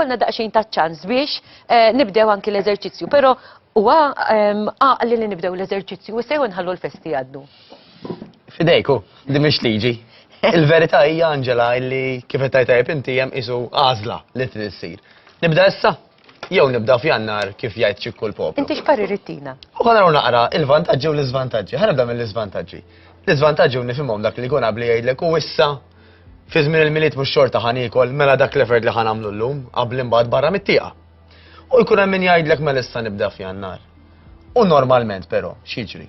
konna daqxejn ta' ċans biex eh, nibdew anki l-eżerċizzju, pero huwa ehm, għaqli li nibdew l-eżerċizzju u sejħu nħallu l-festi għaddu. Fidejku, di mhix liġi. Il-verità hija Angela illi kif qed tajb inti hemm isu għażla li trid issir. Nibda issa? Jew nibda f'jannar kif jgħid ċikku l-poplu. Inti x'parir ittina? U ħana naqra il-vantaġġi u l-iżvantaġġi. Ħana nibda mill-iżvantaġġi. L-iżvantaġġi u nifhimhom dak li jkun qabli jgħidlek u issa fi żmien il-miliet mhux xorta ħan ikol mela dak l-effort li ħan għamlu llum qabli imbagħad barra mit-tieqa. U jkun hemm min jgħidlek mela issa nibda f'jannar. U normalment però, x'jiġri?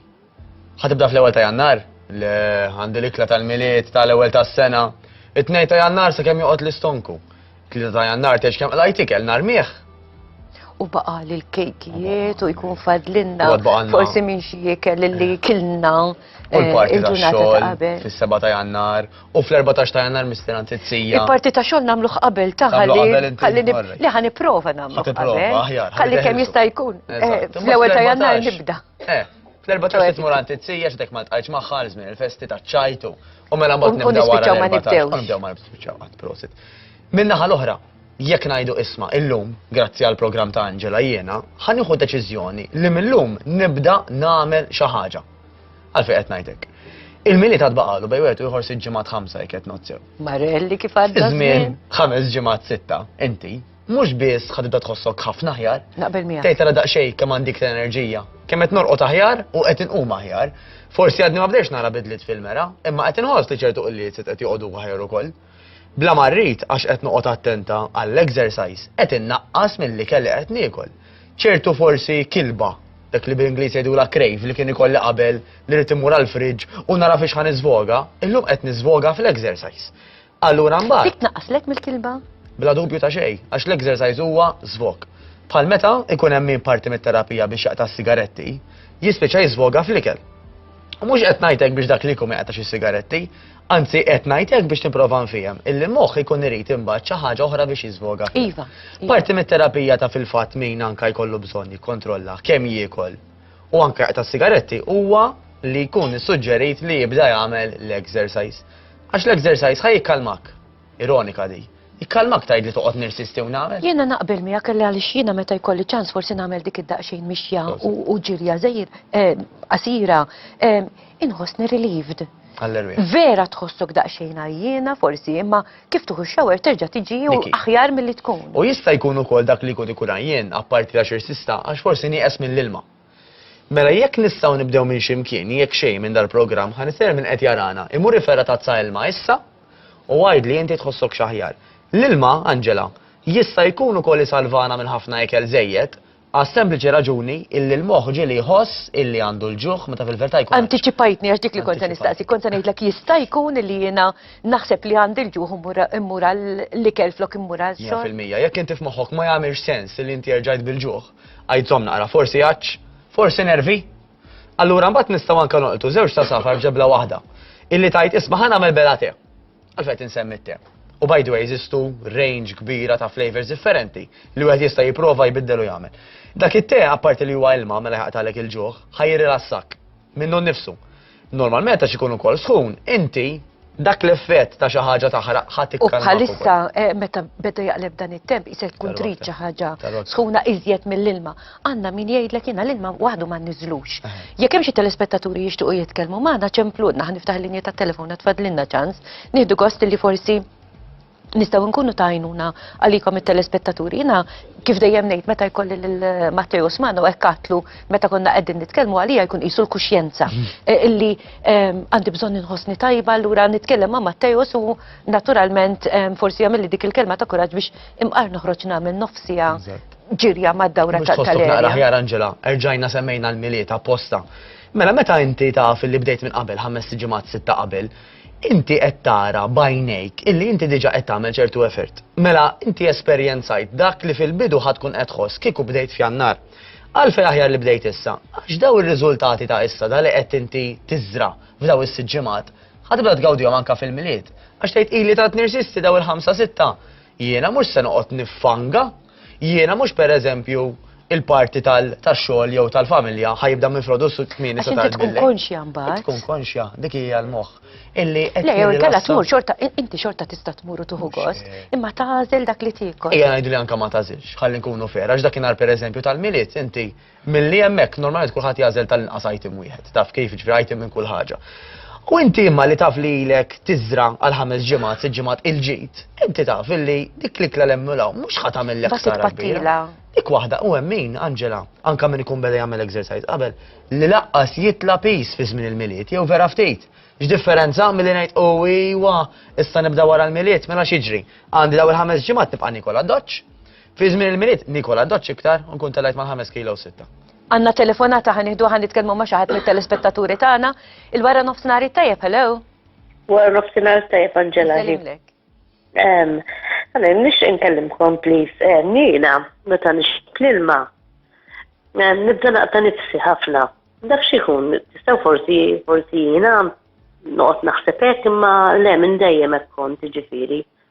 Ħatibda fl-ewwel ta' Jannar, le għandi l-ikla tal-milied tal-ewwel tas-sena. It-tnej ta' Jannar sakemm joqgħod l-istonku. Tlieta ta' Jannar tgħix kemm qlajt ikel nhar miegħ. U baqa' lil kejkijiet u jkun fadlinna forsi minn xi ikel li eh. kilna eh, il-ġurnata ta' qabel. Fis-7 ta' Jannar u fl-14 ta' Jannar misteran tizzija. Il-parti ta' xogħol nagħmluh qabel ta' ħalli li ħa nipprova nagħmlu. Ħalli kemm jista' jkun. Eh, fl-ewwel ta' Jannar nibda. Eh, fl-14 tmur għand it-sija x'dek ma tqajċ magħha għal żmien il-festi ta' ċajtu. U mela mbagħad nibdew wara ma nibdew. Nibdew ma nispiċċaw qatt prosit. Minnaħa l-oħra, jekk ngħidu isma' illum, grazzi għal programm ta' Angela jiena, ħanieħu deċiżjoni li millum nibda nagħmel xi ħaġa. Għalfejn qed ngħidlek. Il-mili ta' tbaqalu bej wieħed u jħor sitt ġimgħat ħamsa jekk qed nozzew. Marelli kif għadda. Żmien ħames ġimgħat sitta, inti, Mhux biss ħa tibda tħossok ħafna aħjar. Naqbel miegħek. Tgħid tara daqsxejn kemm għandik l-enerġija. Kemm qed norqod aħjar u qed inqum aħjar. Forsi għadni ma bdejx nara bidliet fil-mera, imma qed inħoss li ċertu qilliet qed joqogħdu aħjar ukoll. Bla marrit għax qed noqgħod attenta għall-exercise qed innaqqas milli kelli qed niekol. Ċertu forsi kilba dak li bil-Ingliż jgħidu la krejf li kien ikolli qabel li rrid imur għall-friġġ u nara fiex ħan niżvoga, illum qed niżvoga fl-exercise. Allura mbagħad. Dik tnaqqaslek mill-kilba? Bla dubju ta' xejn, għax l-exercise huwa żvok. Bħal meta ikun hemm min parti mit-terapija biex jaqta' s-sigaretti, jispiċċa jiżvoga fl-ikel. U mhux qed ngħidlek biex dak li jkun jaqta' xi sigaretti, Anzi, qed ngħidlek biex tipprova nfihem, illi moħħ ikun irid imbagħad xi ħaġa oħra biex jiżvoga. Iva, iva. Parti mit-terapija ta' fil-fatt min anka jkollu bżonn jikkontrolla kemm jiekol u anka ta' sigaretti huwa li jkun suġġerit li jibda jagħmel l-exercise. Għax l-exercise ħaj jikkalmak. Ironika di. Jikkalmak tgħid li toqgħod nirsisti u nagħmel. Jiena naqbel miegħek kelli għaliex jiena meta jkolli ċans forsi nagħmel dik id-daqsxejn mixja u ġirja żejr eh, qasira eh, inħossni relieved. Vera tħossok daqsxejn għajjena forsi imma kif tuħu xawer terġa' tiġi u aħjar milli tkun. U jista' jkun ukoll dak li jkun ikun għajjen apparti għax irsista għax forsi nieqes mill-ilma. Mela jekk nistgħu nibdew minn xi mkien, jekk xejn minn dal-programm, ħa nistednek min qed jarana, imur iferra' tazza ilma issa u għidli inti tħossok x'aħjar. L-ilma, Angela, jista' jkun ukoll isalvana minn ħafna ikel żejjed, għas-sempliċi raġuni illi l-moħħ ġieli jħoss illi għandu l-ġuħ meta fil-verità jkun. Antiċipajtni għax dik li kont se nistaqsi, kont se ngħidlek jista' jkun illi jiena naħseb li għandi l-ġuħ immur għall-ikel flok immur għax-xorb. 100%, jekk inti f'moħħok ma jagħmilx sens illi inti erġajt bil-ġuħ, Għid żomm naqra, forsi għatx, forsi nervi. Allura mbagħad nistgħu anke noqtu żewġ ta' safar f'ġebla waħda. Illi tajt isma' ħa nagħmel bela te. Għalfejn insemmi te. U by the way, jistu range kbira ta' flavors differenti li wieħed jista' jipprova jbiddel u jagħmel. Dak it-te apparti li huwa ilma mela jaqtalek il-ġuħ, ħajri lassak. minnu nnifsu. Normalment għax ikun ukoll sħun, inti dak l-effett ta' xi ħaġa taħraq ħadd U bħalissa eh, meta beda jaqleb dan it-temp jisaj tkun trid xi ħaġa sħuna iżjed mill-ilma. Għandna min jgħidlek jiena l-ilma waħdu ma niżlux. Eh. Jekk hemm xi telespettaturi jixtiequ jitkellmu magħna ċempludna ħan niftaħ linja tat-telefon tfadlilna ċans, nieħdu gost li forsi nistgħu nkunu ta' għajnuna għalikom it-telespettaturi. Jiena kif dejjem ngħid meta jkolli lil Matteo Osmano hekk katlu meta konna qegħdin nitkellmu għalija jkun qisu l-kuxjenza mm. e, illi għandi bżonn inħossni tajba allura nitkellem ma' Matteo u naturalment forsi jagħmilli dik il-kelma ta' kuraġġ biex imqar noħroġ nagħmel nofsija ġirja mad-dawra tal-erja. Naqra Angela, erġajna semmejna l-miliet apposta. Mela meta inti taf li bdejt minn qabel ħames ġimgħat sitta qabel, inti qed tara b'għajnejk illi inti diġà qed tagħmel ċertu effort. Mela inti esperjenzajt dak li fil-bidu ħadd tkun qed tħoss kieku bdejt f'Jannar. Għalfejn aħjar li bdejt issa? Għax daw ir-riżultati ta' issa da li qed inti tiżra f'daw is-sitt ġimgħat ħatibda tgawdihom anke fil-milied. Għax tgħid ili tant nirsisti daw il-ħamsa sitta jiena mhux se noqgħod niffanga Jiena mhux pereżempju il-parti tax-xogħol jew tal-familja ħajibda minn frodu s kmieni sa tard. Tkun konxja mbagħad. Tkun konxja, dik hija l-moħħ. Illi qed. Le, jew inkella tmur xorta, inti xorta tista' tmur u tuħu gost, imma tagħżel dak li tiekol. Ejja ngħidu li anke ma tagħżilx, ħalli nkunu fer, għax dakinhar pereżempju tal-milied inti Milli hemmhekk normalment kulħadd jagħżel tal-inqas item wieħed, taf kif jiġri item minn kull ħaġa. U inti imma li taf li ilek tiżra għal ħames ġimgħat, sitt ġimgħat il-ġid, inti taf illi dik l-ikla l-emmulaw mhux ħadd għamillek Dak sara kbira. it-tpattila. Dik waħda u hemm min, Angela, anka min ikun beda jagħmel exercise qabel, li laqqas jitla pis fi żmien il-milied, jew vera ftit. X'differenza milli ngħid u iwa, issa nibda wara l-milied, mela x'jiġri? Għandi daw il-ħames ġimgħat nibqa' nikol għad-doċċ. Fi żmien il-milied nikol għaddoċ iktar u nkun telajt mal-5 kilo u sitta. Għanna telefonata ħan iħdu ħan nitkellmu ma' xaħat mit-telespettaturi tagħna. Il-wara nofsinari tajjeb, hello. Wara nofsinari tajjeb Angela. Għana, nix inkellimkom, please. Eh, Nina, meta nix l-ilma, eh, nibda naqta nifsi ħafna. Dak xikun, tistaw forsi, forsi jina, noqt naħsebek imma le minn dejjem ekkon tiġifiri.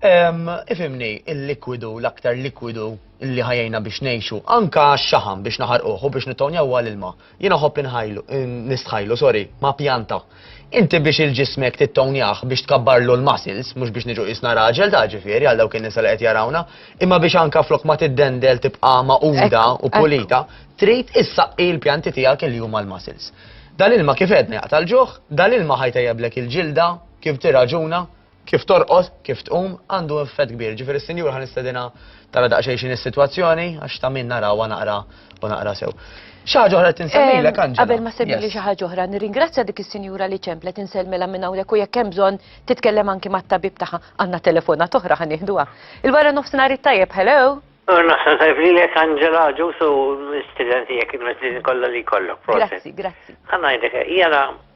Ifimni, il-likwidu, l-aktar likwidu li ħajjina biex nejxu, anka xaħam biex naħarquh u biex nittonjaw għal-ilma. Jina ħobb inħajlu, nistħajlu, sorry, ma' pjanta. Inti biex il-ġismek tittonjaħ biex tkabbarlu l-muscles, mux biex niġu isna raġel ta' ġifiri għal dawk il-nisa li qed jarawna, imma biex anka flok ma tiddendel tibqa' ma' uda u pulita, trid issaqqi l-pjanti tiegħek il huma l-muscles. Dal-ilma kif edna jaqta' l-ġuħ, dal-ilma ħajtejjeblek il-ġilda, kif tiraġuna, Kif torqod, kif tqum, għandu effett kbir. Jiġifieri s-Sinjura ħa nistedinha tara daqsxejn x'inhi s-sitwazzjoni għax ta' min narawha naqra u naqra sew. Xi ħaġa oħra tinsemmilek Anġela. Qabel ma semmili xi ħaġa oħra, nirringrazzja dik is-sinjura li ċemplet insellmilha minn hawnhekk u jekk hemm bżonn titkellem anki mat-tabib tagħha għandna telefonat oħra ħa nieħduha. Il-wara nofsinhar it-tajjeb, hello! Naħseb tajb li lek Anġela ġusu studenti jekk il-mezzin kollha li kollok. Grazzi, grazzi. Għanna jdek, jena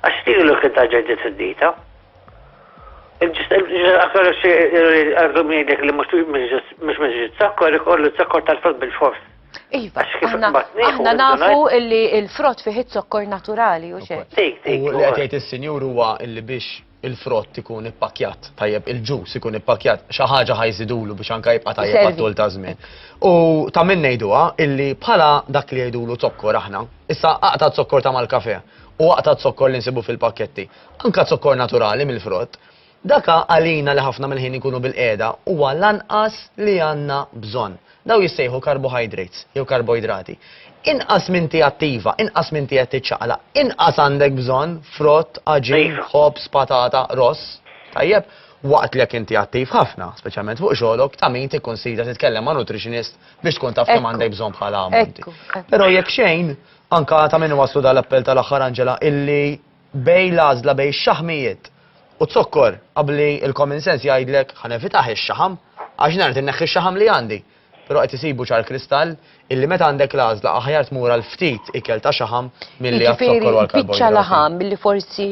Għax din hi l-utilità ġej definita. Aktar xi għandu miegħek li mhux mhux miġi t-sakkor ikollu t-sakkor tal-frott bil-fors. Iva, aħna nafu illi il-frott fih it-zokkor naturali u xejn. U li qed jgħid is-Sinjur huwa illi biex il-frott ikun ippakkjat tajjeb, il-ġus ikun ippakkjat, xi ħaġa ħa jżidulu biex anke jibqa' tajjeb Iservi. għat-tul ta' żmien. U ta' min ngħiduha illi bħala dak li jgħidulu zokkor aħna, issa aqta' zokkor ta' mal-kafè u aqta' zokkor li nsibu fil-pakketti, anke zokkor naturali mill-frott, dak għalina li ħafna mill-ħin inkunu bilqiegħda huwa l-anqas li għandna bżonn. Dawn jissejħu carbohydrates, jew karboidrati. Inqas m'inti attiva, inqas m'inti qed tiċċaqlaq, inqas għandek bżonn frott, għaġin, ħobż, patata, ross. Tajjeb? Waqt li jekk inti attiv ħafna, speċjalment fuq xogħlok, ta' min tikkunsidra titkellem ma' nutritionist biex tkun taf kemm għandek bżonn bħala ammonti. Però jekk xejn, anke ta' min iwasslu dan l-appell tal-aħħar Angela, illi Bejn l-għażla bejn ix-xaħmijiet u z-zokkor, abbli l-common sense jgħidlek ħa nevitah ix-xaħam għax nagħrid inneħħi x-xaħam li għandi. Però qed isibu ċar kristall illi meta għandek l-għażla aħjar tmur għal ftit ikel ta' xaħam milli għaz-zokkor u għall-karboidrati. Jiġifieri biċċa laħam li forsi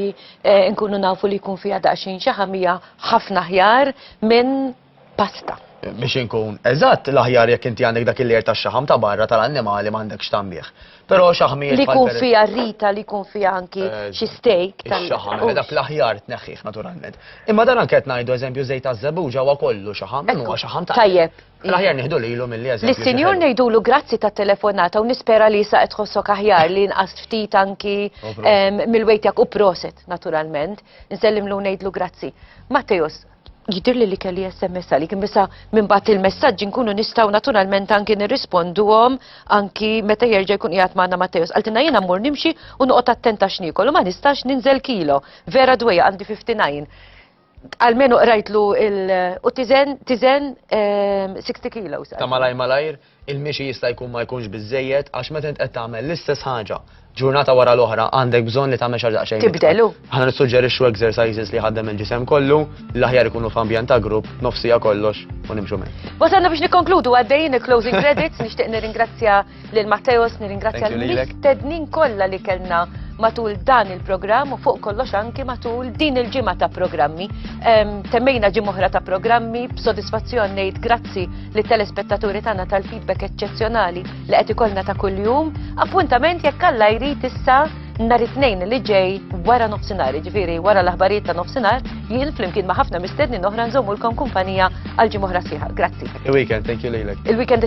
nkunu nafu li jkun fiha daqsxejn xaħam hija ħafna aħjar minn pasta. Biex inkun eżatt, l-aħjar jekk inti għandek dak il-lejer tax-xaħam ta' barra tal-annimali m'għandekx tagħmilh. Però xaħmi Li jkun fiha rita, li jkun fiha anki eh, xi steak tal-xaħam. Eh, dak l-aħjar tneħħih naturalment. Imma dan anke qed ngħidu eżempju żejt taż-żebuġa huwa kollu xaħam, huwa xaħam ta' Tajjeb. L-aħjar nieħdu lilu mill-li eżempju. Lis-sinjur ngħidulu grazzi ta' telefonata u nispera li sa qed tħossok aħjar li nqas ftit anki mill-wejtjak u proset naturalment. Nsellimlu ngħidlu grazzi. Matteus, Jidhirli li kelli SMS għalik, imbisa minn bat il-messaġġi nkunu nistgħu naturalment anki nirrisponduhom anki meta jerġa' jkun qiegħed magħna Matteo. Qaltilna jiena mmur nimxi u noqgħod attenta x'niekol u ma nistax ninżel kilo. Vera dwejja għandi 59. Almenu qrajtlu il u tiżen tiżen 60 ehm, kilos. Ta' malaj malajr Il-mixi jista' jkun ma jkunx biżżejjed għax meta int qed tagħmel l-istess ħaġa ġurnata wara l-oħra għandek bżonn li tagħmel xi ħaġa daqsxejn itqal. Tibdel, u. Aħna nissuġġerixxu exercises li jħaddem il-ġisem kollu, l-aħjar ikunu f'ambjent ta' grupp, nofs siegħa kollox u nimxu minn. Wasalna biex nikkonkludu għaddejjin il-closing credits, nixtieq nirringrazzja lil Matteos, nirringrazzja Thank you lilek. l-mistednin kollha li kellna matul dan il-programm u fuq kollox anki matul din il-ġimgħa ta' programmi. Em, Temmejna ġimgħa oħra ta' programmi, b'sodisfazzjon ngħid grazzi li telespettaturi tagħna tal-feedback eċċezzjonali li qed ikollna ta' kuljum, appuntament jekk Alla jrid issa nhar it-tnejn li ġej wara nofsinhar, jiġifieri wara l-aħbarijiet ta' nofsinhar, jien flimkien ma' ħafna mistednin oħra nżommulkom kumpanija għal ġimgħa oħra sħiħa. Grazzi. Il-weekend, thank you lilek. Il-weekend